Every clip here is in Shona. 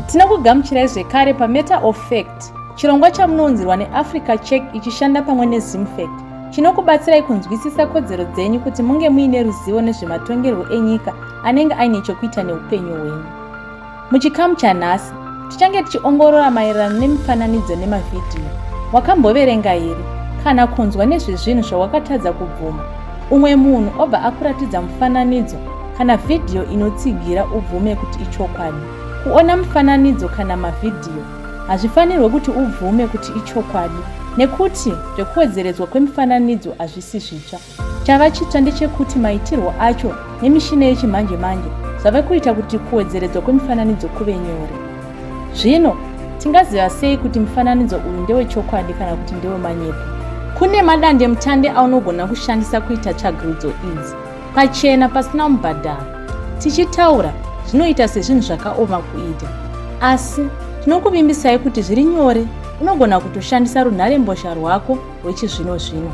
Tinokugamuchirai zvekare paMatter of Fact, chirongwa chamunounzirwa neAfrica Check ichishanda pamwe neZimFact chinokubatsirai kunzwisisa kodzero dzenyu kuti munge muine ruzivo nezvematongerwo enyika anenge aine chokuita neupenyu hwenyu. Muchikamu chanhasi, tichange tichiongorora maererano nemifananidzo nemavhidhiyo. Wakamboverenga here kana kunzwa nezvezvinhu zvawakatadza kubvuma? Umwe munhu obva akuratidza mufananidzo kana vhidhiyo inotsigira ubvume kuti ichokwadi. Kuona mufananidzo kana mavhidhiyo hazvifanirwe kuti ubvume kuti ichokwadi nekuti zvekuwedzeredzwa kwemifananidzo hazvisi zvitsva. Chava chitsva ndechekuti maitirwo acho nemishina yechimanje manje zvave kuita kuti kuwedzeredzwa kwemifananidzo kuve nyore. Zvino tingaziva sei kuti mufananidzo uyu ndewechokwadi kana kuti ndewemanyepo? Kune madandemutande aunogona kushandisa kuita tsvagirudzo idzi. pachena pasina mubhadharo. Tichitaura zvinoita sezvinhu zvakaoma kuita, asi tinokuvimbisai kuti zviri nyore unogona kutoshandisa runharembozha rwako rwechizvino zvino.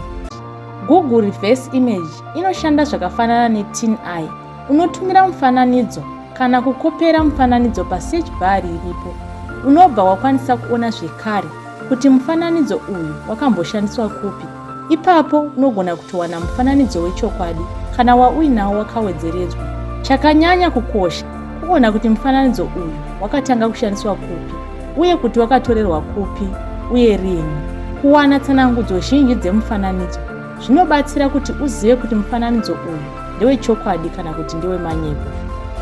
Google Reverse Image inoshanda zvakafanana neTin Eye. Unotumira mufananidzo kana kukopera mufananidzo pasearch bar iripo. Unobva wakwanisa kuona zvekare kuti mufananidzo uyu wakamboshandiswa kupi. Ipapo unogona kutowana mufananidzo wechokwadi kana wauinawo wakawedzeredzwa. Chakanyanya kukosha kuona kuti mufananidzo uyu wakatanga kushandiswa kupi uye kuti wakatorerwa kupi uye rini. Kuwana tsanangudzo zhinji dzemufananidzo zvinobatsira kuti uzive kuti mufananidzo uyu ndewechokwadi kana kuti ndewemanyepo.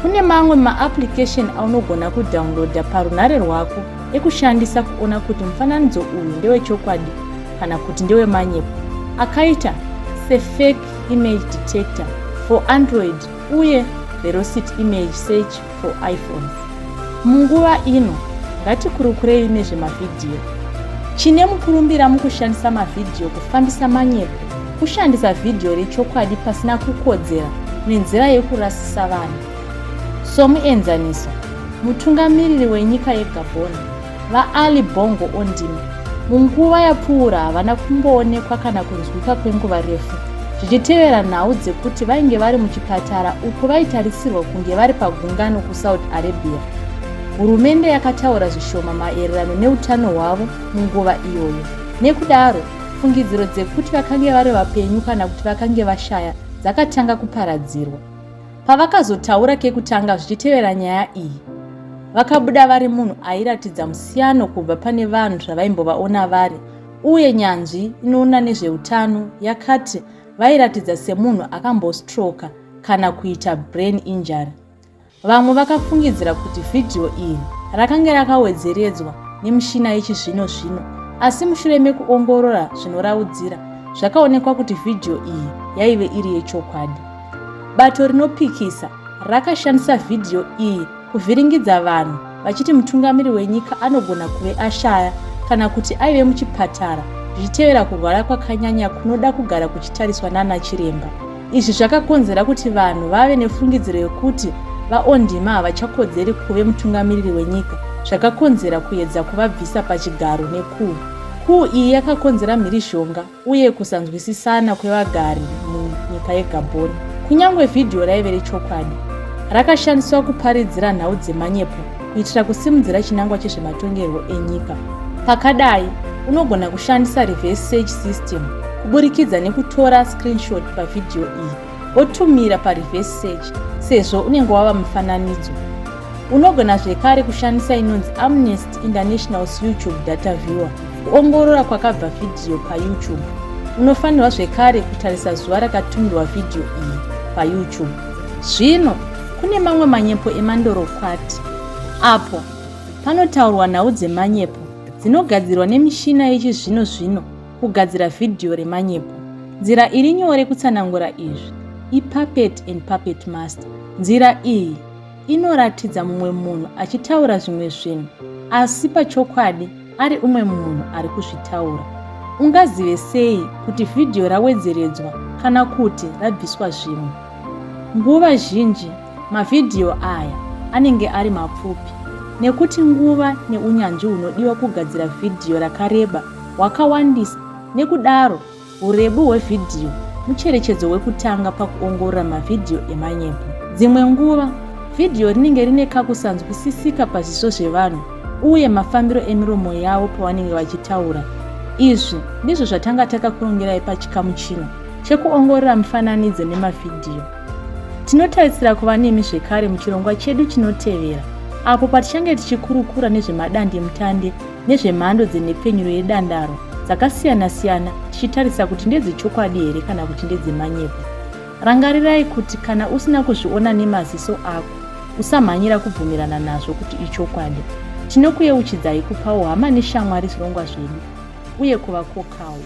Kune mamwe maapplication aunogona kudownloada parunhare rwako ekushandisa kuona kuti mufananidzo uyu ndewechokwadi kana kuti ndewemanyepo akaita sefake image detector for android uye velocity image search for iphones munguva ino ngatikurukurei nezvemavhidhiyo chine mukurumbira mukushandisa mavhidhiyo kufambisa manyepo kushandisa vhidhiyo rechokwadi pasina kukodzera nenzira yekurasisa vanhu somuenzaniso mutungamiriri wenyika yegabhoni VaAli Bongo Ondini munguva yapfuura havana kumboonekwa kana kunzwika kwenguva refu zvichitevera nhau dzekuti vainge vari muchipatara uko vaitarisirwa kunge vari pagungano kusaudi arabia hurumende yakataura zvishoma maererano neutano hwavo munguva iyoyo nekudaro fungidziro dzekuti vakange vari vapenyu kana kuti vakange vashaya dzakatanga kuparadzirwa Pavakazotaura kekutanga zvichitevera nyaya iyi, vakabuda vari munhu airatidza musiyano kubva pane vanhu zvavaimbovaona vari uye nyanzvi inoona nezveutano yakati vairatidza semunhu akambostroka kana kuita brain injury. Vamwe vakafungidzira kuti vhidhiyo iri rakange rakawedzeredzwa nemishina yechizvino zvino, asi mushure mekuongorora zvinoraudzira, zvakaonekwa kuti vhidhiyo iyi yaive iri yechokwadi. Bato rinopikisa rakashandisa vhidhiyo iyi kuvhiringidza vanhu vachiti mutungamiri wenyika anogona kuve ashaya kana kuti aive muchipatara zvichitevera kurwara kwakanyanya kunoda kugara kuchitariswa nana chiremba izvi zvakakonzera kuti vanhu vave nefungidziro yekuti vaondima havachakodzeri kuve mutungamiriri wenyika zvakakonzera kuedza kuvabvisa pachigaro nekuu kuu iyi yakakonzera mhirizhonga uye kusanzwisisana kwevagari munyika yegabhoni kunyange vhidhiyo raive rechokwadi rakashandiswa kuparidzira nhau dzemanyepo kuitira kusimudzira chinangwa chezvematongerwo enyika pakadai unogona kushandisa reverse search system kuburikidza nekutora screenshot pavhidhiyo iyi wotumira pareverse search sezvo unenge wava mufananidzo unogona zvekare kushandisa inonzi amnesty internationals youtube data viewer kuongorora kwakabva vhidhiyo payoutube unofanirwa zvekare kutarisa zuva rakatumirwa vhidhiyo iyi payoutube zvino kune mamwe manyepo emandorokwati apo panotaurwa nhau dzemanyepo dzinogadzirwa nemishina yechizvino zvino kugadzira vhidhiyo remanyepo. Nzira iri nyore kutsanangura izvi ipuppet and puppet master. Nzira iyi inoratidza mumwe munhu achitaura zvimwe zvinhu asi pachokwadi ari umwe munhu ari kuzvitaura. Ungazive sei kuti vhidhiyo rawedzeredzwa kana kuti rabviswa zvimwe? Nguva zhinji Mavhidhiyo aya anenge ari mapfupi nekuti nguva neunyanzvi hunodiwa kugadzira vhidhiyo rakareba hwakawandisa nekudaro urebu hwevhidhiyo mucherechedzo wekutanga pakuongorora mavhidhiyo emanyepo. Dzimwe nguva vhidhiyo rinenge rine kakusanzwisisika pazviso zvevanhu uye mafambiro emiromo yavo pavanenge vachitaura. Izvi ndizvo zvatanga takakurongerai pachikamu chino chekuongorora mifananidzo nemavhidhiyo. Tinotarisira kuva nemi zvekare muchirongwa chedu chinotevera apo patichange tichikurukura nezvemadandemutande nezvemhando dzenhepfenyuro yedandaro dzakasiyana-siyana tichitarisa kuti ndedzechokwadi here kana kuti ndedzemanyepo. Rangarirai kuti kana usina kuzviona nemaziso ako, usamhanyira kubvumirana nazvo kuti ichokwadi. Tinokuyeuchidzai kupawo hama neshamwari zvirongwa zvedu uye kuvakokawo.